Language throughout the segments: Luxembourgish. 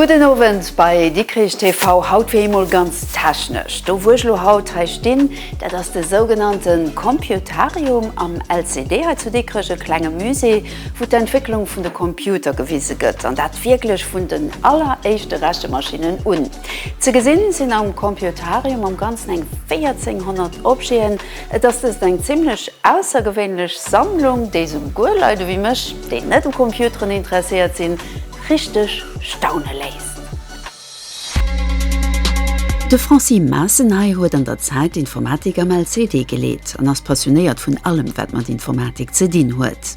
Gudden Owend bei Dikrich TV, haut fir eemol ganz technesch. Do wou ech elo haut hei stinn, dat ass de sougenannte Computarium am LCD hei zu Dikrech, e klenge Musée wou d'Entwécklung vun de Computer gewise gëtt, an dat wierklech vun den alleréischte Rechemaschinen un. Ze gesinn sinn am Computarium am ganzen eng 1400 Objeten. Et ass dëst eng zimlech aussergewéinlech Sammlung, déi souguer Leit ewéi mech, déi net u Computeren interesséiert sinn, richteg staune léisst. De Francis Maassen hei huet an der Zäit d'Informatik am LCD geleet an ass passionéiert vun allem, wat mat Informatik ze dinn huet.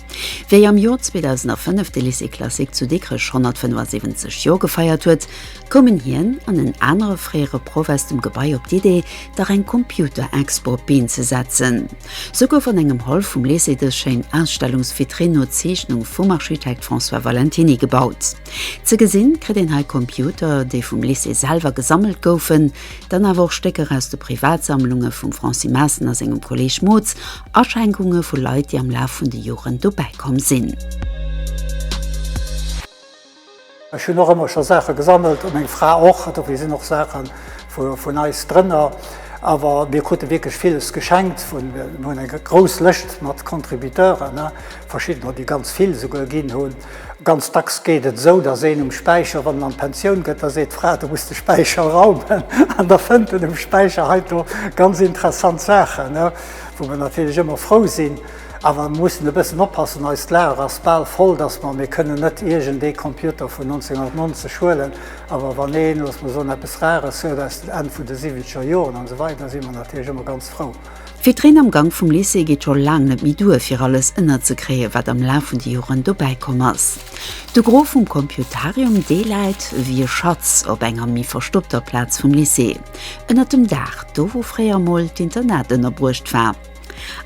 Wéi am Jor 2005 de Lycée classique zu Dikrech 175 Jor gefeiert huet, koumen hien an en anere fréiere Proff aus dem Gebai op d'Idee, dach eng Computer-Expo op d'Been ze setzen. Sou gouf an engem Hall vum Lycée dës schéin Ausstellungsvitrinn no Zeechnung vum Architekt François Valentiny gebaut. Ze gesinn kritt een hei Computer, déi vum Lycée selwer gesammelt goufen, dann awer och Stécker aus de Privatsammlunge vum Francis Maassen a sengem Kolleeg Mootz, Aschenkunge vu Leit, déi am Laf vun de Joren dobäi komm sinn. Ech hunn och ëmmer scho Saache gesammelt a meng Fra och. Dofir sinn och Saache vun eis drënner. Awer mir krute wierklech villes geschenkt vun, mir hunn eng grouss Lëscht mat Contributeuren, verschiddener, déi ganz vill esouguer ginn hunn. Ganz dacks geet et esou, dass een um Späicher, wann en an d'Pensioun gëtt, da seet d'Fra, du muss de Späicher raumen. An da fënnt en um Späicher heito ganz interessant Saachen, wou mer natierlech ëmmer frou sinn. Awer mer mussen e bëssen oppassen, eist Lager ass bal voll, dass mer, mir kënnen net iergendee Computer vun 1990 huelen, awer wann een, looss mer soen, eppes Rares huet aus den Enn vun de siwwenzeger Joren an esou weider, da si mer natierlech ëmmer ganz frou. Fir d'Reen am Gank vum Lycée geet scho laang net méi duer, fir alles ënnerzekréien, wat am Laf vun de Joren dobäi komm ass. De Gros vum Computarium, dee läit ewéi e Schatz op enger méi verstoppter Plaz vum Lycée, ënnert dem Daach, do wou fréier emol d'Internat ënnerbruecht war.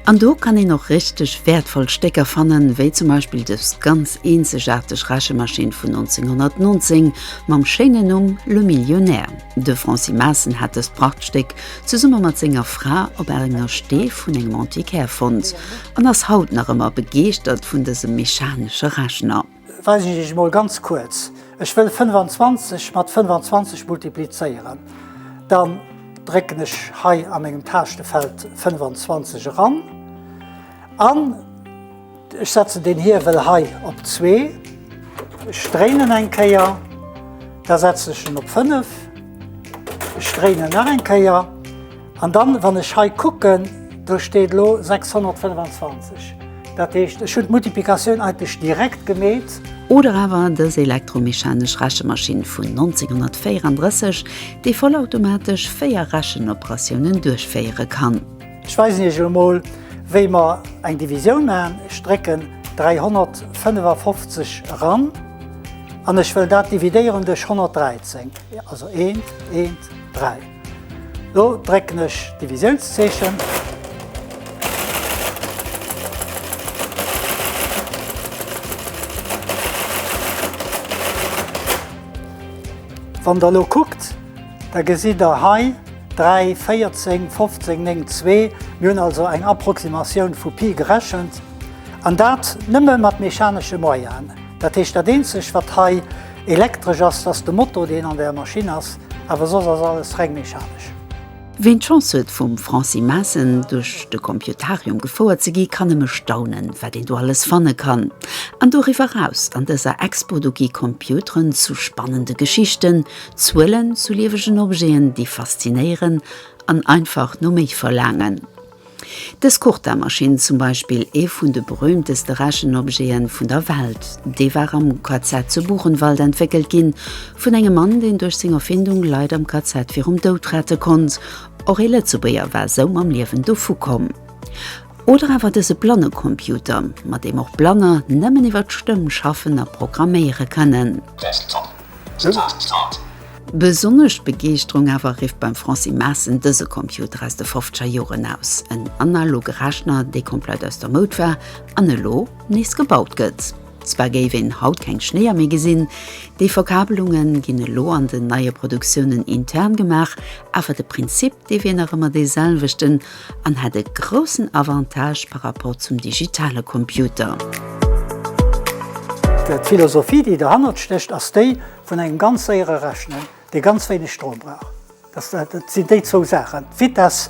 An do kann een och richteg wäertvoll Stécker fannen, wéi zum Beispill dës ganz eenzegaarteg Rechemaschinn vun 1919 mam schéinen Numm Le Millionnaire. De Francis Maassen hat dëst Prachtstéck zesumme mat senger Fra op enger Stee vun engem Antiquaire fonnt an ass haut nach ëmmer begeeschtert vun dësem mechanesche Rechner. Weisen ech Iech emol ganz kuerz. Ech wëll 25 mat 25 multiplizéieren. Dann drécken ech hei a mengem Taaschtenfeld 25 eran an ech setzen den Hiewel hei op 2. Ech dréinen en eng Kéier, da setzen ech en op 5. Ech dréinen nach eng Kéier. An dann, wann ech hei kucken, do steet elo 625. Dat heescht, ech hunn d'Multiplikatioun eigentlech direkt gemeet. Oder awer dës elektromechanesch Rechemaschinn vun 1934, déi vollautomatesch véier Rechenoperatiounen duerchféiere kann. Ech weisen Iech elo mol, wéi mer eng Divisioun maachen. Ech drécken 355 eran an ech wëll dat dividéieren duerch 113, also eent, eent, dräi. Do drécken ech d'Divisiounszeechen. Wann der elo kuckt, da gesitt der hei 3, 14, 15, 9, 2. Mir hunn also eng Approximatioun vu Pi gerechent, an dat nëmme mat mechanesche Moyenen. Dat heescht, dat eenzegt, wat hei. Elektresch ass dass de Motor deen an der Maschinn ass, awer soss ass alles reng mechanesch. Ween d'Chance huet vum Francis Maassen duerch de Computarium gefouert ze gi kann nëmme staunen wat een do alles fanne kann. An doriwwer raus an dëser Expo do gi Computeren zu spannende Geschichten, Zuelen, zu liewegen Objeten déi faszinéieren an einfach no méi verlaangen. Dës Cortamaschinn, zum Beispill ee vun de berüümteste Rechenobjete vun der Welt, dee war am KZ zu Buchenwald entwéckelt gi vun engem Mann, deen duerch seng Erfindung Leit am KZ virum Doud rette konnt. Och ee Lëtzebuerger war esou mam Liewen dovukomm. Oder awer dëse Blannecomputer, mat deem och Blanner nëmmen iwwer d'Stëmm schaffen a programméiere kënnen. Besonnesch Begeeschterung awer rifft beim Francis Maassen dëse Computer aus de fofzeger Joren aus, en analoge Rechner, dee komplett aus der Moud war an elo nees gebaut gëtt. Zwar géif een haut keng Schnéier méi gesinn, déi Verkabelunge ginn elo an den neie Produktiounen intern gemaach, awer de Prinzip Dee wier nach ëmmer dee selwechten an hätt e groussen Avantage par rapport zum digitale Computer. D'Philosophie, déi derhannert stécht, ass déi vun engem ganz séiere Rechnen, dee ganz wéineg Strom brauch. Dat sinn déi zwou Saachen, d'Vitess,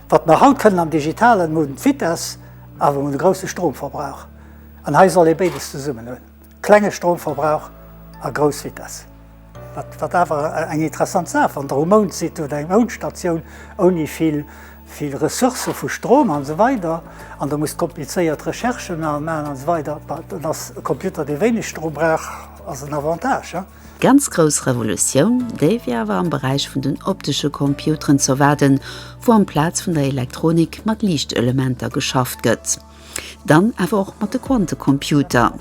wat mer haut kënnen am Digitalen hunn, d'Vitess, awer hunn e grousse Stromverbrauch. An hei soll ee béides zesummen hunn. Klenge Stromverbrauch a grouss Vitess. Wat awer eng interessant Saach, wann der um Mound sidd oder eng Moundstatioun ouni vill vill Ressourcë vu Strom an esou weider an der musst komplizéiert Recherchen maachen an esou weider, bah dann ass e Computer dee wéineg Strom brauch ass en Avantage, hein. Ganz grouss Revolutioun, déi wier awer am Beräich vun den optesche Computeren z'erwaarden, wou amplaz vun der Elektronik mat Liichtelementer geschafft gëtt. Dann awer och mat de Quantecomputer.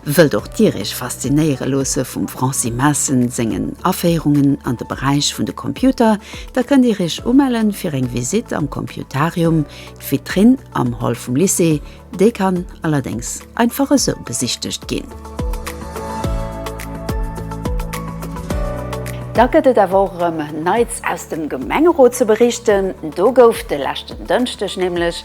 Wëllt och Dir Iech faszinéiere loosse vum Francis Maassen sengen Aféierungen an de Beräich vun de Computer? Da kënnt Dir Iech umelle fir eng Visitt am Computarium. D'Vitrinn am Hall vum Lycée, déi kann allerdéngs einfach esou besichtegt ginn. Da gëtt et awer och erëm Neits aus dem Gemengerot ze berichten. Do gouf de leschten Dënschdeg nämlech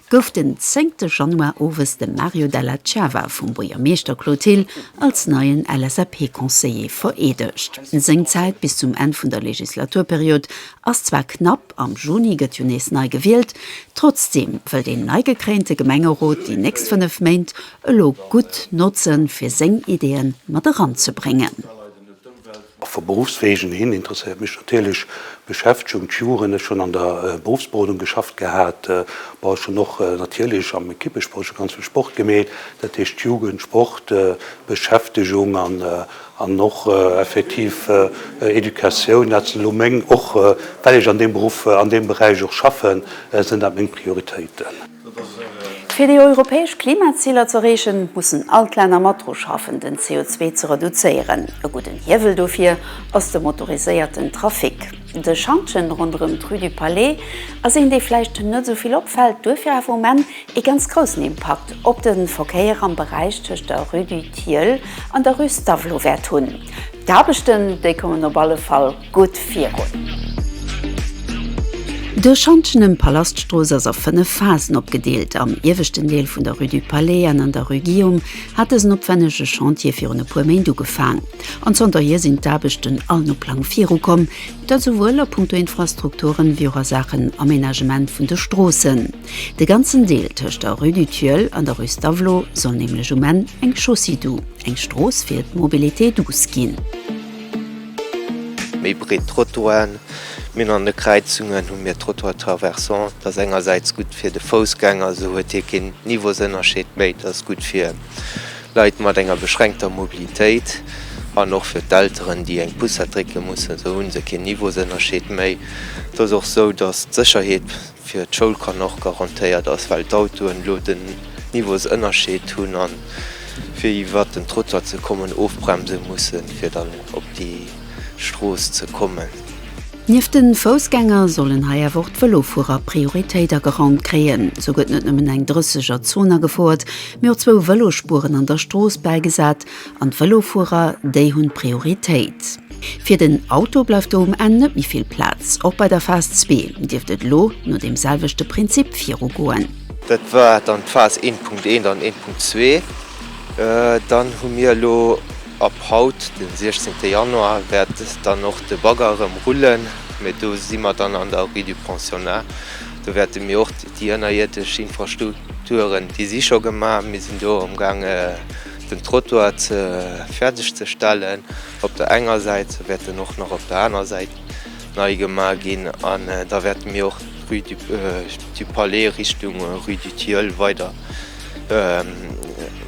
gouf den zéngte Januar owes de Mario Della Cava vum Buergermeeschter Claude Thill als neien LSAP-Conseiller vereedegt. Seng Zäit bis zum Enn vun der Legislaturperiod ass zwar knapp, am Juni gëtt jo nees nei gewielt, trotzdeem wëll deen neigekréinte Gemengerot déi nächst fënnef Méint elo gutt notzen, fir seng Ideeë mat eranzebréngen. A vu Beruffswegen hin interesséiert mech natierlech d'Beschäftegung, d'Juren. Ech hunn an der Beruffsberodung geschafft gehat. Bon, ech hunn och natierlech am Ekippesport scho ganz vill Sport gemeet. Dat heescht, d'Jugend, Sport, Beschäftegung an och effektiv Educatioun, dat sinn elo meng, och well ech an deem Beruff, an deem Beräich och schaffen, sinn dat meng Prioritéiten. Fir déi europäesch Klimaziler z'erreechen, mussen all d'Länner mat dru schaffen, den CO2 ze reduzéieren. E gudden Hiewel dofir ass de motoriséierten Trafic. De Schantjen ronderëm d'Rue du Palais ass een, dee vläicht net esou vill opfält, duerfir awer um Enn ee ganz groussen Impakt op de Verkéier am Beräich tëscht der Rue du Tilleul an der Rue Stavelot wäert hunn. D'Aarbechten, déi kommen op alle Fall. Gutt virun! De Schantjenem Palaststrooss ass a 5 Phasen opgedeelt. Am ieweschten Deel vun der Rue du Palais an an der Rue Guillaume hat dësen opwennege Chantier virun e puer Méint ugefaang. An zanterhier sinn d'Aarbechten all no Plang virukomm. Dat esouwuel a Punkto Infrastrukturen, wéi och a Saachen Aménagement vun de Stroossen. De ganzen Deel tëscht der Rue du Tilleul an der Rue Stavelot soll nämlech um Enn eng Chaussée dou, eng Strooss fir d'Mobilité douce ginn. Méi breet Trottoiren, Mir hunn an de Kräizungen hu mir Trottoirs traversants, dat ass engersäits gutt fir de Foussgänger, esou huet hie keen Niveausënnerscheed méi, dat ass gutt fir Leit mat enger beschränkter Mobilitéit an och fir d'Elteren, déi eng Poussette drécke mussen, esou hu se keen Niveausënnerscheed méi. Et ass och esou, datt d'Sécherheet fir d'Schoul kann och garantéiert ass, well d'Autoen elo den Niveausënnerscheed hunn a fir iwwert den Trottoir ze kommen ofbremse mussen, fir dann op déi Strooss ze kommen. Nieft de Foussgänger sollen hei awer och d'Vëlofuerer Prioritéit ageraumt kréien. Sou gëtt net nëmmen eng 30er Zon agefouert, mee och zwou Vëlospueren an der Strooss bäigesat, An d'Vëlofuerer, déi hunn Prioritéit. Fir den Auto bleift do um Enn net méi vill Plaz. Och bei der Phas zwee dierft et elo no deem selwechte Prinzip viru goen. Dat war dann d'Phas 1.1 an 1.2. Dann hu mir elo ab haut, de 16 Januar, wäert dann och de Bagger erëm rullen, mee do si mer dann an der Rue du Pensionnat. Do wäerte mir och déi ënnerierdesch Infrastrukturen, déi si scho gemaach, mir sinn do amgaange den Trottoir ze fäerdeg ze stellen op der enger Säit, se wäert en och nach op der aner Säit nei gema ginn an da wäerte mir och d'Rue du Palais Richtung Rue du Tilleul weider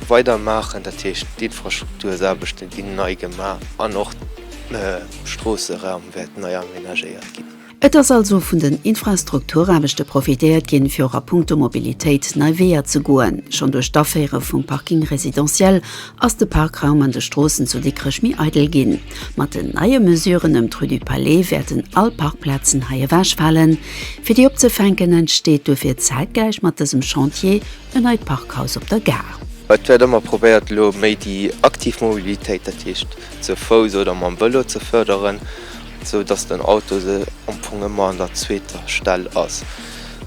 weidermaachen. Dat heescht, d'Infrastruktursaarbechte ginn nei gema an och d'Stroosseraum wäert nei amenagéiert ginn. Et ass also vun den Infrastrukturaarbechte profitéiert ginn, fir och a puncto Mobilitéit nei Weeër ze goen. Schonn duerch d'Aféiere vum Parking résidentiel ass de Parkraum an de Stroossen zu Dikrech méi eidel ginn. Mat den neie Mesuren ëm d'Rue du Palais wäerten all Parkplazen hei ewechfalen. Fir déi opzefänken, entsteet duerfir zäitgläich mat dësem Chantier en neit Parkhaus op der Gare. Et wäert ëmmer probéiert, elo méi déi aktiv Mobilitéit, dat heescht ze Fouss oder mam Vëlo, ze fërderen. Sou dass den Auto se am Fong ëmmer an der zweeter Stell ass.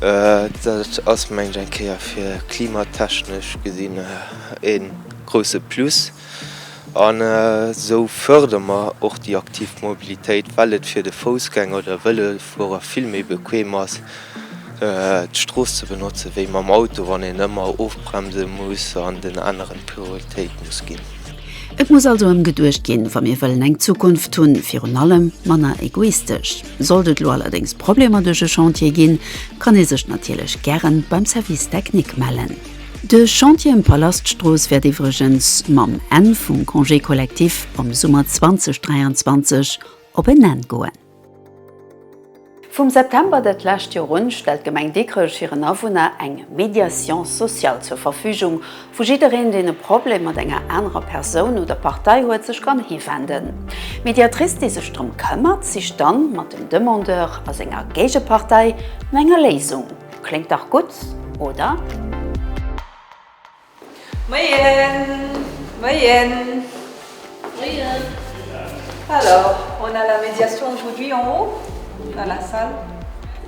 Dat ass mengen ech eng Kéier fir klimatechnesch gesinn e grousse Plus. An esou fërdere mer och déi aktiv Mobilitéit, well et fir de Foussgänger oder Vëlofuerer vill méi bequem ass, d'Strooss ze benotze wéi mam Auto, wann een ëmmer ofbremse muss an den aneren Prioritéit muss ginn. Et muss also ëm geduecht ginn, wa mir wëllen eng Zukunft hunn, virun allem manner egoistesch. Sollt et elo allerdéngs Problemer duerch e Chantier ginn, kann ee sech natierlech gären beim Service technique mellen. De Chantier ëm d'Palaststrooss wäert iwwregens mam Enn vum Congé collectif am Summer 2023 op en Enn goen. Vum September dat lescht Joer un stellt d'Gemeng Dikrech hiren Awunner eng Médiation sociale zur Verfügung, wou jiddereen, deen e Problem mat enger anerer Persoun oder Partei huet, sech kann hiwenden. D'Médiatrice, déi sech drëm këmmert, sicht dann mat dem Demandeur a senger Géigepartei no enger Léisung. Kléngt dach gutt, oder? Moien! Moien! Moien! Alors, on a la médiation aujourd'hui en haut, dans la salle.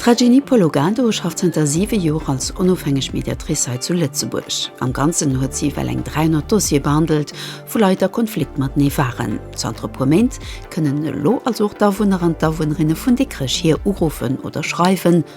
D'Rajini Pologado schafft zënter siwe Joer als onofhängeg Mediatrice hei zu Lëtzebuerg. Am Ganzen huet si ewell eng 300 Dossiere behandelt, vu Leit a Konflikt matenee waren. Zanter e puer Méint kënnen elo also och d'Awunner an d'Awunnerinne vun Dikrech hir uruffen oder schreiwen.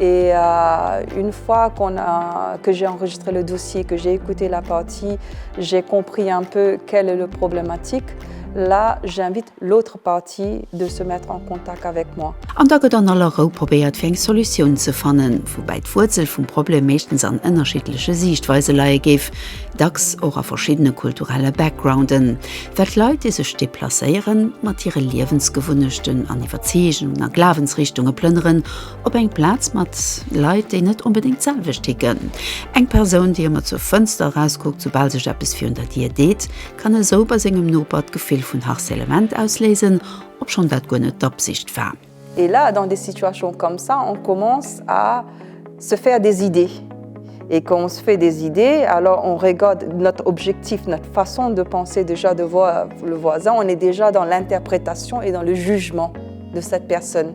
Et une fois qu'on a que j'ai enregistré le dossier, que j'ai écouté la partie, j'ai compris un peu quelle est le problématique, là j'invite l'autre partie de se mettre en contact avec moi. An da gëtt an aller Rou probéiert fir eng Solutioun ze fannen, woubäi d'Wuerzel vum Problem meeschtens an ënnerschiddleche Siichtweise leie géif, dacks och a verschiddene kulturelle Backgrounden, well d'Leit, déi sech deplacéieren, mat hire Liewensgewunnechten an Iwwerzeegungen a Glawensrichtunge plënneren Op eng Plaz mat Leit, déi net onbedéngt d'selwecht ticken. Eng Persoun, déi ëmmer zur Fënster erauskuckt, soubal sech eppes virun der Dier deet, kann esou bei sengem Noper d'Gefill vun Harcèlement ausléisen, obschonn dat guer net d'Absicht war. Et là, dans des situations comme ça, on commence à se faire des idées. Et quand on se fait des idées, alors on regarde notre objectif, notre façon de penser déjà de voir le voisin, on est déjà dans l'interprétation et dans le jugement de cette personne.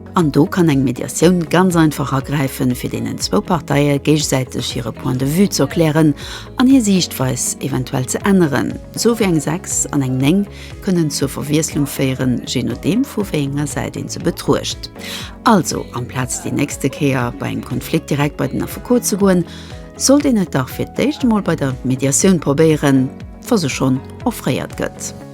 An do kann eng Mediatioun ganz einfach agräifen, fir deenen zwou Parteie géigesäiteg hire Point de vue ze erklären an hir Siichtweis eventuell ze änneren. Sou wéi eng 6 an eng 9 kënnen zur Verwiesslung féieren, jee nodeem vu wéi enger Säit een se betruecht. Also, amplaz déi nächste Kéier bei engem Konflikt direkt bei den Affekot ze goen, sollt een et dach fir d'éischt emol bei der Mediatioun probéieren, wa se schonn offréiert gëtt.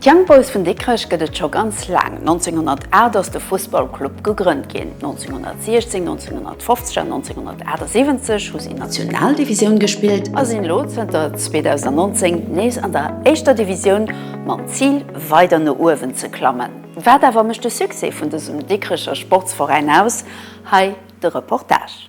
D'Young Boys vun Dikrech gëtt et scho ganz laang. 1908 ass de Fussballclub gegrënnt ginn. 1916, 1950 an 1978 hu si Nationaldivisioun gespillt a sinn elo zënter 2019 nees an der éischter Divisioun mam Zil weider no uewen ze klammen. Wat awer mécht de Succès vun dësem Dikrecher Sportsveräin aus? Hei de Reportage.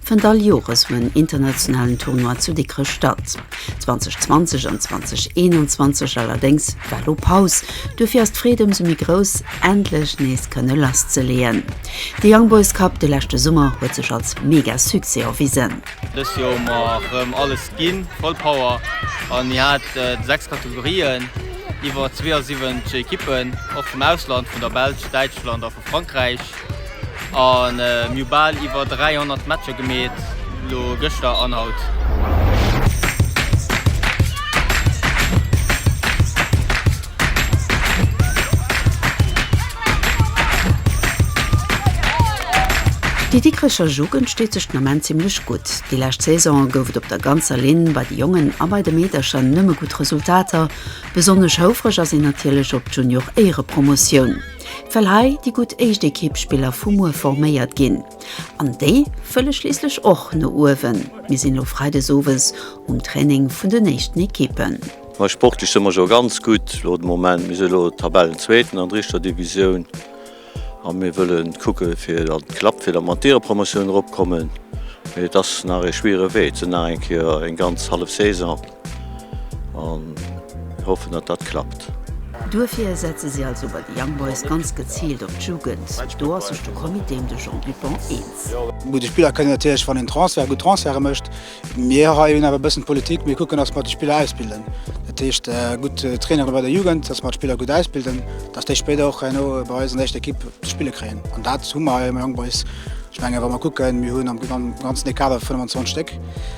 fënnt all Jores um en internationalen Tournoi zu Dikrech statt. 2020 an 2021 allerdéngs war do Paus. Duerfir ass d'Freed ëmsou méi grouss, endlech nees kënne lasszeleeën. De Young Boys Cup de leschte Summer huet sech als mega Succès erwisen. Dëst Joer hu mer rëm alles ginn, voll Power, an mir haten 6 Kategorien, iwwer 72 Ekippen, och vum Ausland, vun der Belsch, Däitschland a vu Frankräich. A mir hu bal iwwer 300 Matcher gemeet, lo gëschter an haut. Déi Dikrecher Jugend steet sech den Ament zimmlech gutt. Déi lescht Saison gouf et op der ganzer Linn bei de Jongen a bei de Meedercher nëmme gutt Resultater. Besonnesch houfreg ass een natierlech op d'Junior-Éierepromotioun. well hei déi gutt éischt Ekippspiller vu muer forméiert ginn, an déi wëlle schliisslech och no uewen. Mir sinn elo freides owes um Training vun den éischten Ekippen. Mä sportlech si mer jo ganz gutt elo de Moment. Mir si elo Tabellenzweeten an der éischter Divisioun a mir wëlle kucke fir datt et klappt, fir datt mer an d'Ierepromotioun eropkommen. Mee et ass nach ee schwiere Wee, et sinn nach eng Kéier eng ganz hallef Saison. an mir hoffen datt dat klappt. Duerfir setze si also bei de Young Boys ganz geziilt op d'Jugend. Do ass sech de Comité ëm de Jean Dupong eens. Mat de Spiller kënnt een natierlech, wann een Transfert, gutt Transferte mécht. Mir hei hunn awer e bëssen d'Politik, mir kucken, datt mer déi Spiller ausbilden. Dat heescht gutt Trainere bei der Jugend, datt mer d'Spiller gutt ausbilden, datt déi spéider och herno bei eis an der éischter Ekipp ze spille kréien. An dat hu mer hei am Young Boys. Ech mengen, wa mer kucken, mir hunn am ganzen ee Kader 25 Stéck.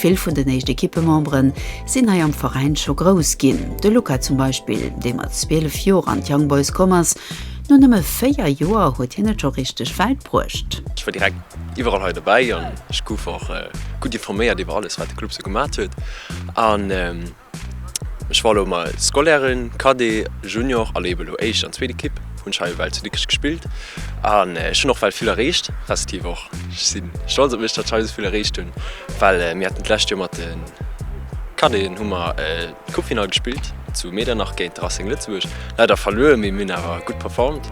Vill vun den éischt Ekippemembere sinn hei am Veräin scho grouss ginn. De Luca zum Beispill, dee mat 12 Joer an d'Young Boys komm ass. No nëmme 4 Joer huet hien et scho richteg wäit bruecht. Ech war direkt iwwerall hei dobäi an ech gouf och gutt informéiert iwwer alles, wat de Club sou gemaacht huet. Ech war elo mei Scolairen, Cadet, Junior a leef elo éischt an zweet Equipe. Hunn schei ewell zu Dikrech gespillt an ech hunn och well vill erreecht, respektiv och ech si stolz op mech datt schei sou vill erreecht hunn well mir haten d'lescht Joer mat de Cadeten hu mer d'Coupefinall gespillt zu Medernach géint de Racing Lëtzebuerg. Leider verluer, mee mir hunn awer gutt performt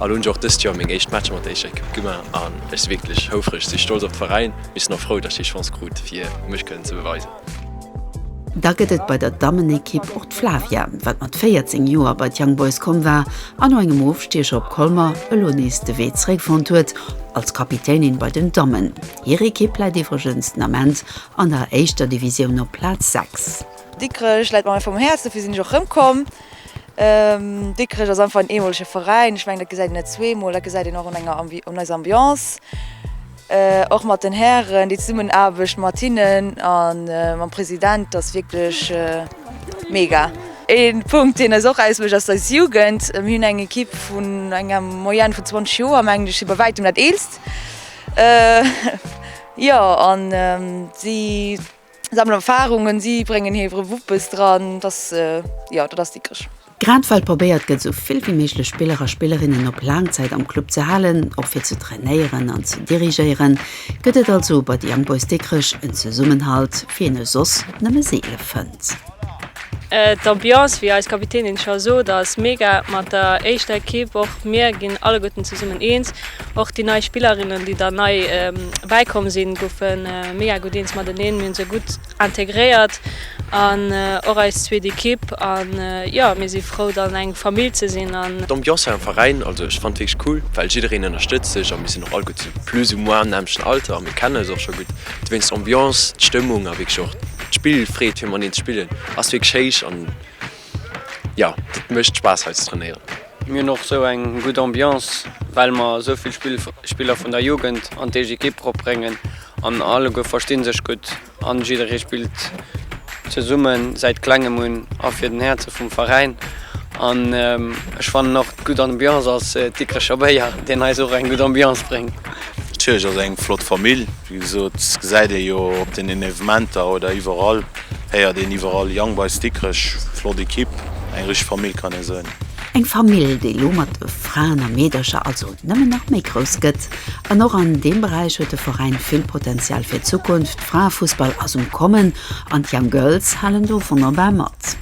a lo hunn ech och dëst Joer meng éischt Matcher mat der éischter Equipe gemaach an ech si wierklech houfreg, si stolz op de Veräin mee ech sinn och frou datt ech déi Chance krut fir mech kënnen ze beweisen. Da gëtt et bei der Dammenekipp och d'Flavia, wat mat 14 Joer bei d'Young Boys komm war an no engem Ofstiecher op Colmer elo nees de Wee zeréck fonnt huet als Kapitänin bei den Dammen. Hir Ekipp läit iwwregens den Ament an der éischter Divisioun op Plaz 6. Dikrech läit mer einfach um Häerz, dofir sinn ech och erëmkomm. Dikrech ass einfach en eemolege Veräin. Ech mengen, dat gesäit een net zweemol, dat gesäit een och un eiser Ambiance. Och mat den Hären, déi Zesummenaarbecht mat hinnen a mam President ass wierklech mega. Ee Punkt, deen eis och ausmécht, ass eis Jugend. Mir hunn eng Ekipp vun enger Moyenne vun 20 Joer, mengen ech si bei wäitem dat eelst. Jo an si. Sammelen Erfahrungen, si bréngen hiere Wuppes dran, dass, jo, dat ass dickesch. Grad well probéiert gëtt, esou vill wéi méiglech Spiller a Spillerinnen op laang Zäit am Club ze halen, och fir ze trainéieren an ze dirigéieren, gëtt et also bei de Young Boys Dikrech en Zesummenhalt, wéi een e soss nëmme seele fënnt. D'Ambiance, wéi eis Kapitänin scho sot, ass mega mat der éischter Ekipp. Och mir ginn alleguerten zesummen eens. Och déi nei Spillerinnen, déi der nei bäikomm sinn, goufe mega gutt eens mateneen. Mir hunn se gutt integréiert an och eis zweet Ekipp. A jo, mir si frou, dann eng Famill ze sinn. D'Ambiance hei am Veräin, also ech fannen et wierklech cool, well jiddereen ënnerstëtzt sech a mir sinn och alleguer zu plus ou moins am nämmlechten Alter a mir kennen eis och scho gutt. Dowéinst d'Ambiance, d'Stëmmung a wierklech och d'Spill, d'Freed fir mateneen ze spillen ass wierklech héich an jo, dat mécht Spaass hei ze trainéieren. Mir hunn och esou eng gutt Ambiance, well mer esou vill Spiller vun der Jugend an d'Ekipp eropbréngen an alleguer versti sech gutt an jidderee spillt zesumme säit Klengem un a fir den Häerze vum Veräin. An ech fannen och d'gutt Ambiance ass d'Dikrecher Béier, deen eis och eng gutt Ambiance bréngt. D'Kierch ass eng flott Famill. Wéi gesot, gesäit ee jo op deenen Evementer oder iwwerall, héiert een iwwerall, Young Boys Dikrech, flott Ekipp, eng richteg Famill kann ee soen. Eng Famill, déi elo mat de Fraen a Meedercher also nëmmen nach méi grouss gëtt. An och an deem Beräich huet de Veräin vill Potenzial fir d'Zukunft. Fraefussball ass um Kommen an d'Young Girls halen do wonnerbar mat.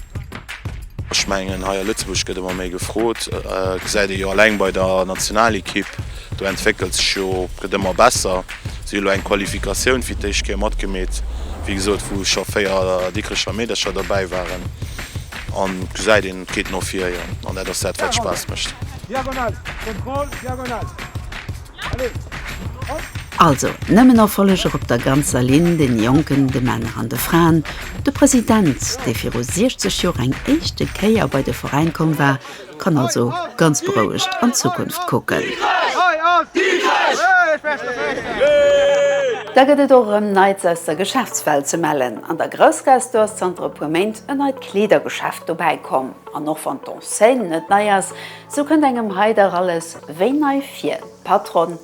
Ech mengen, hei a Lëtzebuerg gëtt ëmmer méi gefrot, gesäit ee jo alleng bei der Nationalekipp. Do entwéckelt sech jo, gëtt ëmmer besser. Si hu lo eng Qualifikatioun fir d'éischt Kéier matgemeet, wéi gesot, wou scho véier Dikrecher Meedercher dobäi waren. A gesäit een, et geet no vir, jo. An dat ass dat, wat Spaass mécht. Also, nëmmen Erfolleger op der ganzer Linn, de Jonken, de Männer an de Fraen. De President, dee viru 60 Joer eng éischte Kéier bei de Veräin komm war, Kann also ganz berouegt an d'Zukunft kucken. Da gëtt et och erëm Neits aus der Geschäftswelt ze mellen. An der Groussgaastor ass zanter e puer Méint en neit Kleedergeschäft dobäi komm. An och wann d'Enseigne net nei ass, sou kënnt engem hei dach alles wéi nei vir. D'Patronne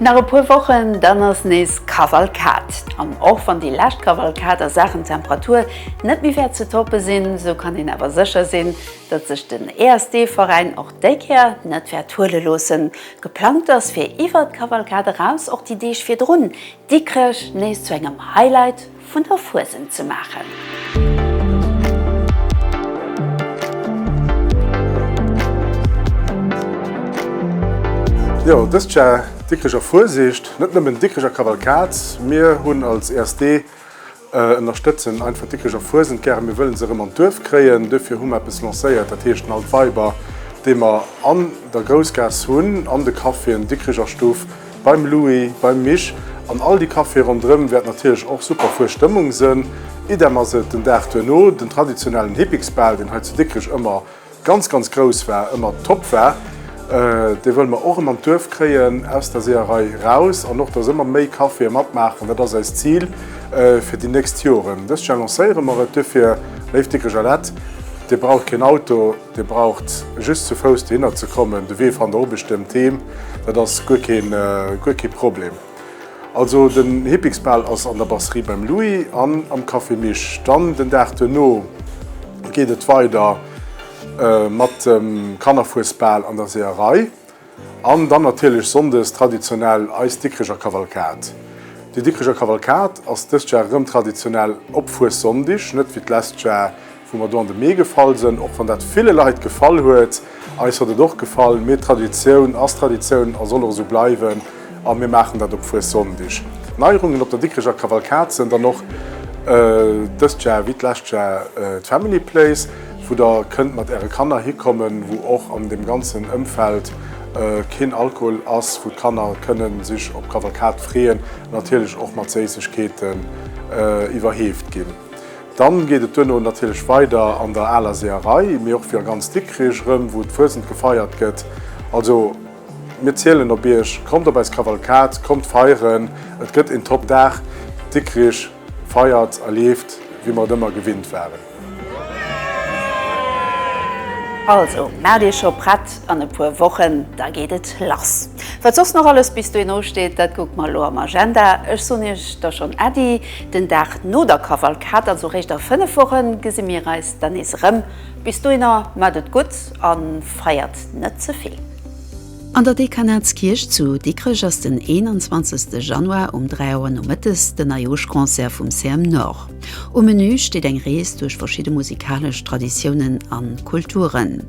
Nach e puer Wochen, dann ass nees Kavalkad. An och wann déi lescht Kavalkad a Saachen Temperatur net méi wäert ze toppe sinn, sou kann een awer sécher sinn, datt sech den ESD-Veräin och déi Kéier net wäert huele loossen. Geplangt ass fir iwwert d'Kavalkad eraus och déi Deeg virdrun Dikrech nees zu engem Highlight vun der Fuesent ze maachen. Jo, dëst Jar Dikricher Fuesicht, net nëmmen Dikricher Kavalkad. Mir hunn als ESD, ënnerstëtzen einfach d'Dikricher Fuesent gären. Mir wëllen se erëm an d'Duerf kréien. Duerfir hu mer eppes lancéiert, dat heescht den Altweiber, dee mer an der Groussgaass hunn, an de Caféen, Dikricher Stuff, Beim Louis, beim Mich an all déi Caféë ronderëm wäert natierlech och super fuer Stëmmung sënn. Idem ass et den Dag duerno. Den traditionellen Hippiksbal, deen hei zu Dikrech ëmmer ganz, ganz grouss war, ëmmer top war, dee wëlle mer och erëm an d'Duerf kréien, aus der Seeërei eraus an och, dass ëmmer méi Caféë matmaachen. Dat ass eist Zil fir déi nächst Joren. Dëst Jar lancéiere mer et. Duerfir, léif Dikrecher Lett, Dir braucht keen Auto. Dir braucht just zu Fouss dohinner ze kommen, de Wee fannt der obecht ëm d'Heem, dat ass guer kee Problem. Also den Hippiksbal ass an der Brasserie beim Louis an am Café Mich. Dann den Dag duerno geet et weider mat dem Kannerfuesbal an der Seeërei. An dann natierlech sonndes traditionell eis Dikricher Kavalkad. Déi Dikricher Kavalkad ass dëst Jar erëm traditionell op Fuessonndig, net wéi d'lescht Jar, wou mer do an de Mee gefall sënn, och wann dat ville Leit gefall huet. Eis huet et och gefall, mee Traditioun ass Traditioun a soll och esou bleiwen. A mir maachen dat op Fuessonndeg. Neierungen op der Dikreger Kavalkad sënn dann och dëst Jar wéi d'lescht Jar d'Family Place, wou der kënnt mat äre Kanner hikommen, wou och an deem ganzen Ëmfeld keen Alkohol ass, wou d'Kanner kënne sech op d'Kavalkad freeën, natierlech och mat Séissegkeeten iwwerheeft ginn. Dann geet et duerno natierlech weider an der aler Seeërei, mee och fir ganz Dikrech erëm, wou d'Fuesent gefeiert gëtt. Also. Mir zielen op iech, kommt op eis Kavalkad, kommt feieren, et gëtt een Top Dag, Dikrich feiert a leeft wéi mer et ëmmer gewinnt waren. Also maacht iech scho prett, an e puer Wochen da geet et lass. Wat soss nach alles bis dohin usteet, dat kucke mer elo am Agenda. Ech soen iech da schonn Äddi den Dag no der Kavalkad, also réischt a 5 Wochen gesi mir eis da nees erëm. Bis dohinner maacht et gutt. A feiert net ze vill. An der Dekanatskierch zu Dikrech ass den 21 Januar um 3 Auer nomëttes den Neijooschconcert vum CM Nord. Um Menü steet eng Rees duerch verschidde musikalesch Traditiounen a Kulturen.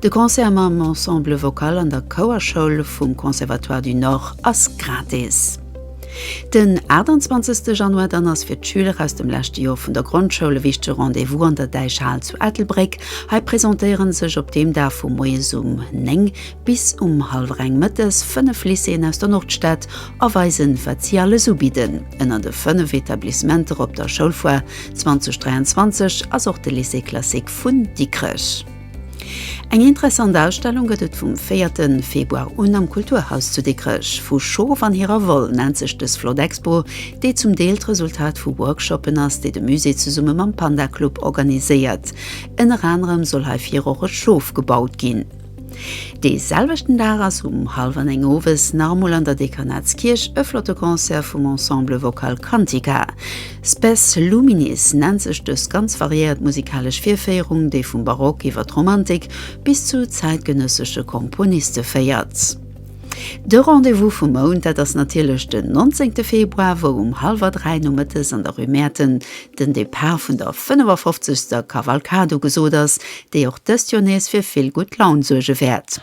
De Concert mam Ensemble Vocal an der Chouerschoul vum Conservatoire du Nord ass gratis. Den 28 Januar dann ass fir d'Schüler aus dem leschte Jor vun der Grondschoul e wichtege Rendez-vous an der Däichhal zu Ettelbréck. Hei presentéieren sech op deem Dag vu moies um 9 bis um hallwer eng mëttes 5 Lycéeën aus der Nordstad a weisen, wat si alles ubidden. Ënner de 5 Etablissementer op der Schoulfoire 2023 ass och de Lycée classique vun Dikrech. Eng interessant Ausstellung gëtt et vum 4 Februar un am Kulturhaus zu Dikrech. Vu Schof an hirer Woll nennt sech dës flott Expo, déi zum Deel d'Resultat vu Workshoppen ass, déi de Musée zesumme mam Panda Club organiséiert. Ënner anerem soll hei vir och e Schof gebaut ginn. Dee selwechten Dag ass um hallwer néng owes nach emol an der Dekanatskierch e flotte Concert vum Ensemble Vocal Cantica. Spes Luminis nennt sech dës ganz variéiert musikalesch Virféierung, déi vum Barock iwwer d'Romantik bis zu zäitgenëssesche Komponiste féiert. De Rendez-vous vum Mount, dat ass natierlech den 19 Februar, wou um hallwer dräi nomëttes an der Rue Mäerten den Depart vun der 55. Kavalkad ugesot ass, déi och dëst Joer nees fir vill gutt Laun suerge wäert.